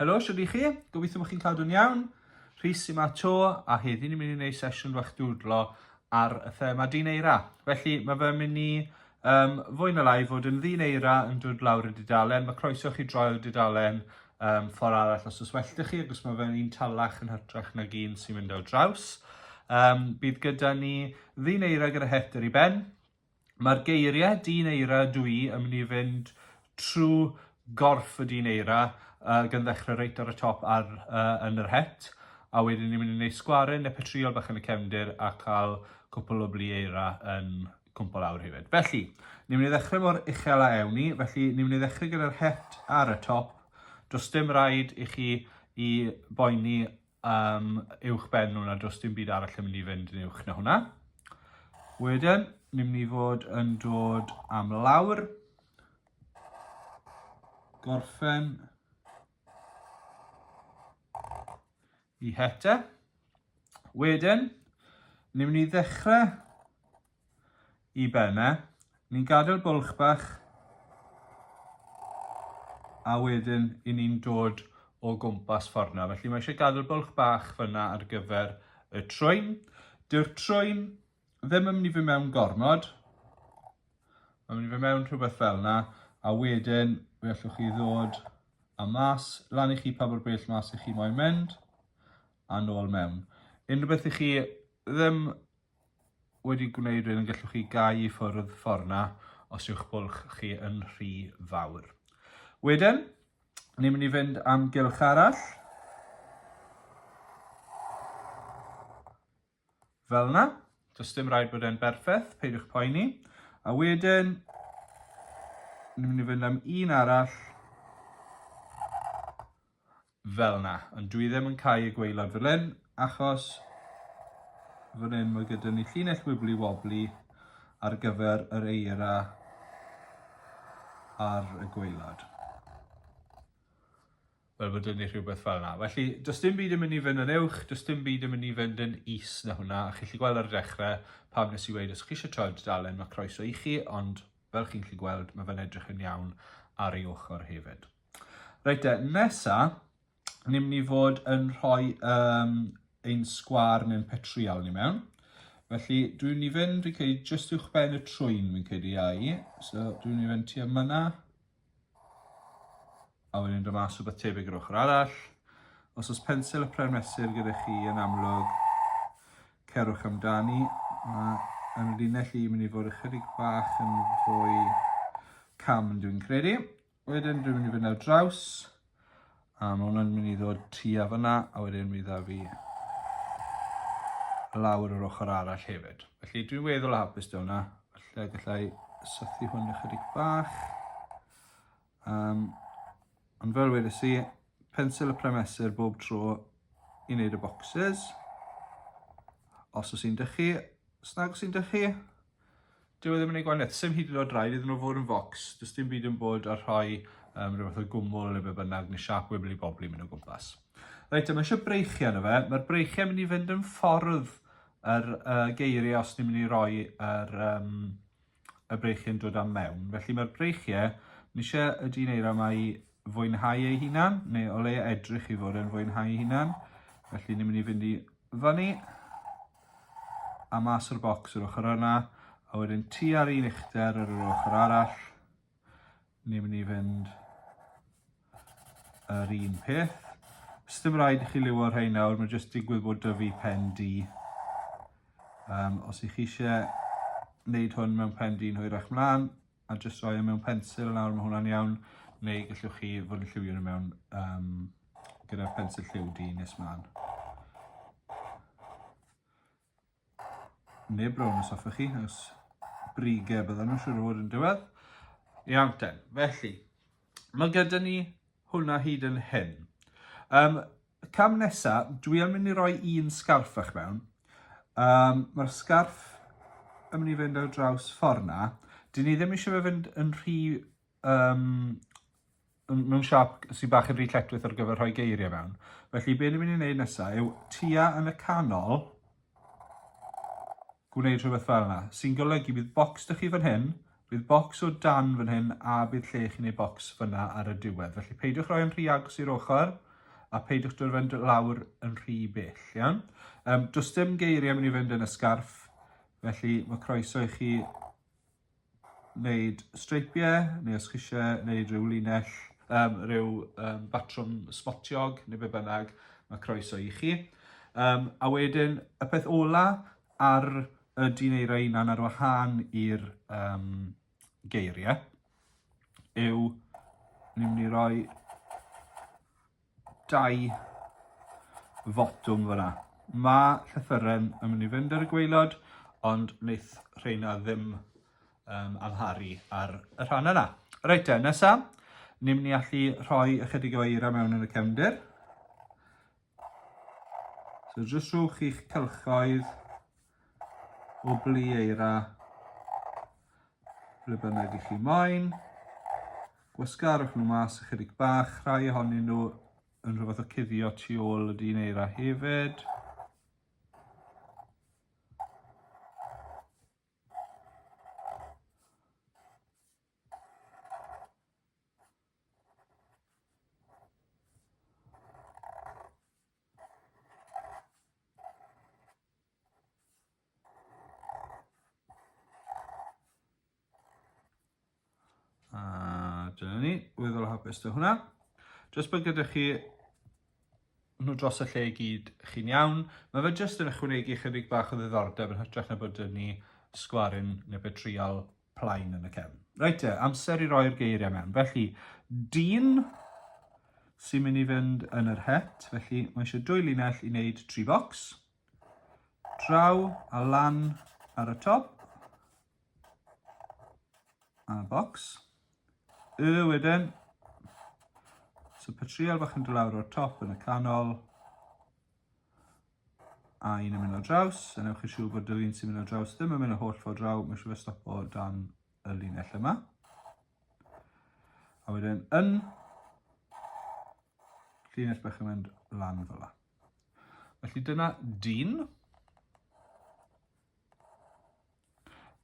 Helo, siwr i chi? Gobeithio bod chi'n cadw'n iawn. Rhys sy'n ma to, a heddi ni'n mynd i wneud sesiwn fach dwdlo ar y thema dineira. Felly, mae fe mynd i Yym, fwy na lai, fod yn ddyn eira yn dod lawr y dudalen, mae croeso chi droi'r dudalen um, ffordd arall os oes well da chi, agos mae fe'n un talach yn hytrach nag un sy'n mynd ar draws. Um, bydd gyda ni ddyn eira gyda het ar ei ben. Mae'r geiriau dyn eira dw i yn mynd i fynd trwy gorff y dyn eira uh, gan ddechrau reit ar y top ar, uh, yn yr het a wedyn ni'n mynd i wneud sgwaryn neu petriol bach yn y cefndir a cael cwpl o blu eira yn cwmpo lawr hefyd. Felly, ni'n mynd i ddechrau mor uchel a ewn ni, felly ni'n mynd i ddechrau gyda'r het ar y top. Does dim rhaid i chi i boeni um, uwch ben nhw na does dim byd arall yn mynd i fynd yn uwch na hwnna. Wedyn, ni'n mynd i fod yn dod am lawr, gorffen, Y hete. Wedyn, ni'n mynd i ddechrau i ben e. Ni'n gadael bwlch bach. A wedyn, i ni'n dod o gwmpas ffordd yna. Felly mae eisiau gadael bwlch bach fyna ar gyfer y trwyn. Dyw'r trwyn ddim yn mynd i fy mewn gormod. Mae'n mynd i fy mewn rhywbeth fel yna. A wedyn, fe allwch chi ddod a mas, lan i chi pa mor bell mas i chi moyn mynd, a nôl mewn. Unrhyw beth i chi ddim wedi gwneud rhywun yn gallwch chi gau i ffwrdd ffordd na os yw'ch bwlch chi yn rhy fawr. Wedyn, ni'n mynd i fynd am gylch arall. Fel 'na. Does dim rhaid bod e'n berffeth, peidiwch poeni. A wedyn, ni'n mynd i fynd am un arall. Fel 'na. Ond dwi ddim yn cael y gweilod fel hyn, achos fan hyn mae gyda ni llinell wibli wobli ar gyfer yr eira ar y gweilod. fel bod yn ei rhywbeth fel yna. Felly, does dim byd yn mynd i fynd yn uwch, does dim byd yn mynd i fynd yn is na hwnna. A chi'n lli gweld ar y dechrau pam nes i weid os chi eisiau troi dudalen mae croeso i chi, ond fel chi'n lli gweld mae fe'n edrych yn iawn ar ei ochr hefyd. Reit e, nesa, ni'n mynd i fod yn rhoi um, ein sgwar neu'n petriol ni mewn. Felly dwi'n ni fynd, fi'n credu, jyst uwch ben y trwyn fi'n credu ai. So dwi'n ni fynd tua myna. A wedyn dod mas rhywbeth tebyg yr ochr arall. Os oes pensil y pren mesur gyda chi yn amlwg, cerwch amdani. Mae yn linell i mynd i fod ychydig bach yn fwy cam dwi'n credu. Wedyn dwi'n mynd i fynd ar draws A mae hwnna'n mynd i ddod tua fyna a wedyn mi dda fi lawr yr ochr arall hefyd. Felly dwi'n weddol hapus da hwnna. Felly gallai sythu hwn ychydig bach. Um, ond fel wedi si, pensil y premesur bob tro i wneud y boxes. Os oes sy'n dychu, snag sy'n dychu. Dyw e ddim yn ei gwaniaeth, sy'n hyd yn oed rhaid iddyn nhw fod yn focs, does dim byd yn bod a rhoi um, rhywbeth o gwmwl neu beth bynnag, neu siap wibli bobli mynd o gwmpas. Reit, yma eisiau breichiau yna fe, mae'r breichiau mynd i fynd yn ffordd yr uh, geiriau os ni'n mynd i roi yr, um, y breichiau yn dod am mewn. Felly mae'r breichiau, ni eisiau y dyn eira yma i fwynhau ei hunan, neu o leia edrych i fod yn fwynhau ei hunan. Felly ni'n mynd i fynd i fyny, a mas o'r bocs yr ochr yna, a wedyn ti ar un uchder ar yr ochr arall, ni'n mynd i fynd yr un peth. Sdim rhaid i chi liwio'r rhain nawr, mae jyst digwydd bod dyfu pen di. Um, os ych chi eisiau wneud hwn mewn pen di'n hwyrach mlaen, a jyst rhoi e mewn pensil nawr, mae hwnna'n iawn, neu gallwch chi fod yn lliwio nhw mewn um, gyda'r pensil lliw di nes mlaen. Neu brown os hoffech chi, os brige bydden nhw'n siŵr o fod yn diwedd. Iawn ten, felly, mae gyda ni hwnna hyd yn hyn. Um, Y cam nesa, dwi am mynd i roi un sgarff fach mewn. Um, Mae'r sgarff yn mynd i fynd ar draws ffordd na. Dyn ni ddim eisiau fe fynd yn rhy... Um, mewn siap sy'n bach yn rhy cletwith ar gyfer rhoi geiriau mewn. Felly, be ni'n mynd i wneud nesaf yw tua yn y canol, gwneud rhywbeth fel yna. Sy'n golygu bydd bocs dych chi fan hyn, bydd bocs o dan fan hyn a bydd lle chi'n ei bocs fyna ar y diwedd. Felly peidiwch roi yn rhy agos i'r ochr a peidiwch dod fynd lawr yn rhy bell. Iawn? Um, does dim geiriau mynd i fynd yn y sgarff, felly mae croeso i chi wneud streipiau, neu os chi eisiau wneud rhyw linell, um, rhyw um, batrwm sbotiog, neu be bynnag, mae croeso i chi. Um, a wedyn, y peth ola ar y dyn eira unan ar wahân i'r um, geiriau yw ni'n mynd i roi dau fotwm fyna. Mae llythyren yn mynd i fynd ar y gweilod, ond wneith rheina ddim um, amharu ar y rhan yna. Reit te, nesa, ni'n mynd i allu rhoi ychydig o eira mewn yn y cefndir. So jyst rhowch chi'ch cylchoedd o blu eira ble bynnag i chi moyn. Gwasgarwch nhw mas ychydig bach, rhai ohonyn nhw yn rhywbeth o cuddio tu ôl y dyn eira hefyd. A dyna ni, weddol hapus dy hwnna. Just bod gyda chi nhw dros y lle i gyd chi'n iawn. Mae fe jyst yn ychwanegu chydig bach o ddiddordeb yn hytrach na bod yn ni sgwarin neu betriol plaen yn y cefn. Reit te, amser i roi'r geiriau mewn. Felly, dyn sy'n mynd i fynd yn yr het, felly mae eisiau dwy linell i wneud tri bocs. Draw a lan ar y top. A bocs. Y wedyn. So patrial bach yn dod lawr o'r top yn y canol. a un yn mynd ar draws, a newch chi siŵr bod yr un sy'n mynd ar draws ddim yn mynd y holl ffordd draw, mae siŵr fe stopo dan y linell yma. A wedyn yn llinell bach yn mynd lan fel yna. Felly dyna dyn.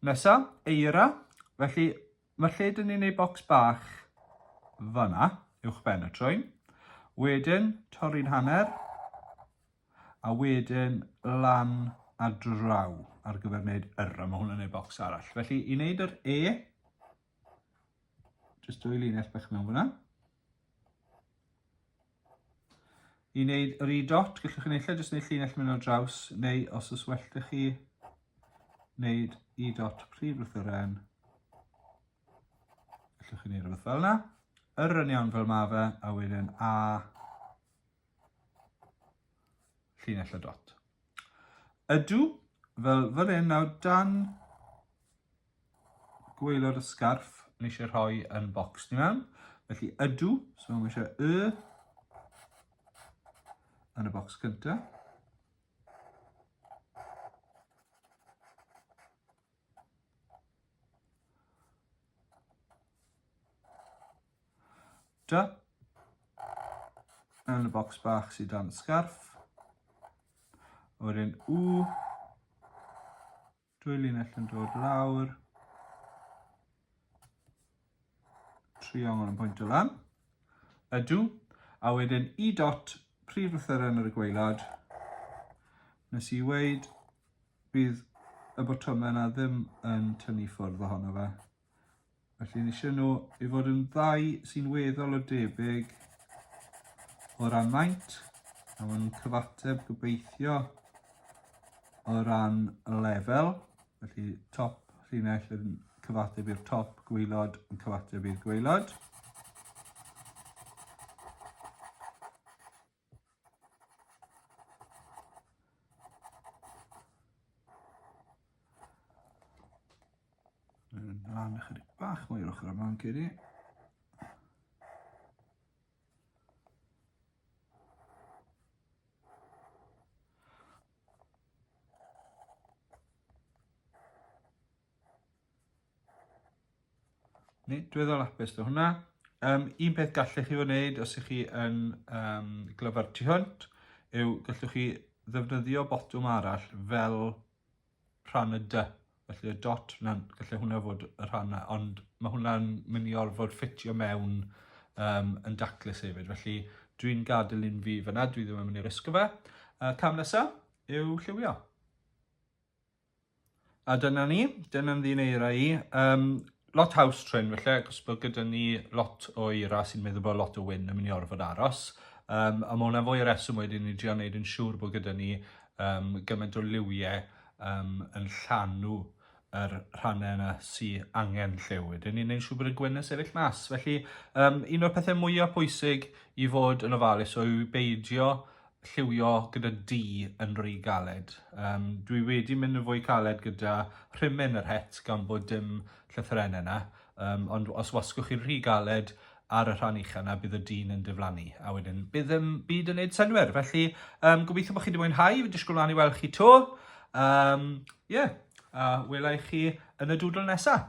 Nesa, eira. Felly, Felly, dyn ni'n ei bocs bach fanna, uwch ben y trwyn. Wedyn, torri'n hanner, a wedyn lan a draw ar gyfer wneud yr, a mae hwnna'n ei bocs arall. Felly, i wneud yr E, jyst dwy linell bach mewn fyna. I wneud yr i dot, gallwch chi neill jyst wneud llinell mynd ar draws, neu os ys well da chi, wneud i dot prif lythyren. Gallwch chi wneud rhywbeth fel yna. Yr yn iawn fel mae fe, a wedyn a llinell y dot. Ydw, fel fan hyn, nawr dan Gwelwr y sgarff yn eisiau rhoi yn bocs ni mewn. Felly ydw, so mae eisiau y yn y bocs cynta. Da. Yn y bocs bach sydd dan y sgarff. Wedyn u Dwy linell yn dod lawr. Triongl yn pwynt o lan. Ydw. A wedyn i dot prif lythyren ar y gweilad. Nes i weid bydd y botymau yna ddim yn tynnu ffwrdd ohono fe. Felly ni eisiau nhw i fod yn ddau sy'n weddol o debyg o ran maint a maen nhw'n cyfateb gobeithio o ran lefel. Felly top llinell yn cyfateb i'r top, gweilod yn cyfateb i'r gweilod. Mae'n lan ychydig bach mwy o'r ochr yma yn cedi. Ni, dwi ddol apus do hwnna. Um, un peth gallech chi wneud os ych chi yn um, glyfar tu hwnt yw gallwch chi ddefnyddio botwm arall fel rhan y dy. Felly y dot, na, gallai hwnna fod y rhan yna, ond mae hwnna'n mynd i orfod ffitio mewn um, yn daclus hefyd. Felly dwi'n gadael un fi fyna, dwi ddim yn mynd i risgo fe. Uh, cam nesaf yw lliwio. A dyna ni, dyna'n ddyn eira i. Um, lot house train felly, ac os bod gyda ni lot o eira sy'n meddwl bod lot o wyn yn mynd i orfod aros. Um, a mae hwnna fwy o reswm wedyn i drio wneud yn siŵr bod gyda ni um, gymaint o liwiau um, yn llanw yr rhannau yna sy'n angen lliw. Wedyn ni'n gwneud siŵr bod y gwyn yn sefyll mas. Felly, um, un o'r pethau mwyaf pwysig i fod yn ofalus yw beidio lliwio gyda du yn rhy galed. Um, dwi wedi mynd yn fwy caled gyda rhimyn yr het gan bod dim llythyrennau yna, um, ond os wasgwch chi'n rhy galed ar y rhan uchel yna, bydd y dyn yn diflannu, a wedyn bydd yn byd yn neud synwyr. Felly, um, gobeithio bod chi wedi mwynhau, fi disgwyl mlaen i weld chi to. Um, yeah, a welai chi yn y dwdl nesaf.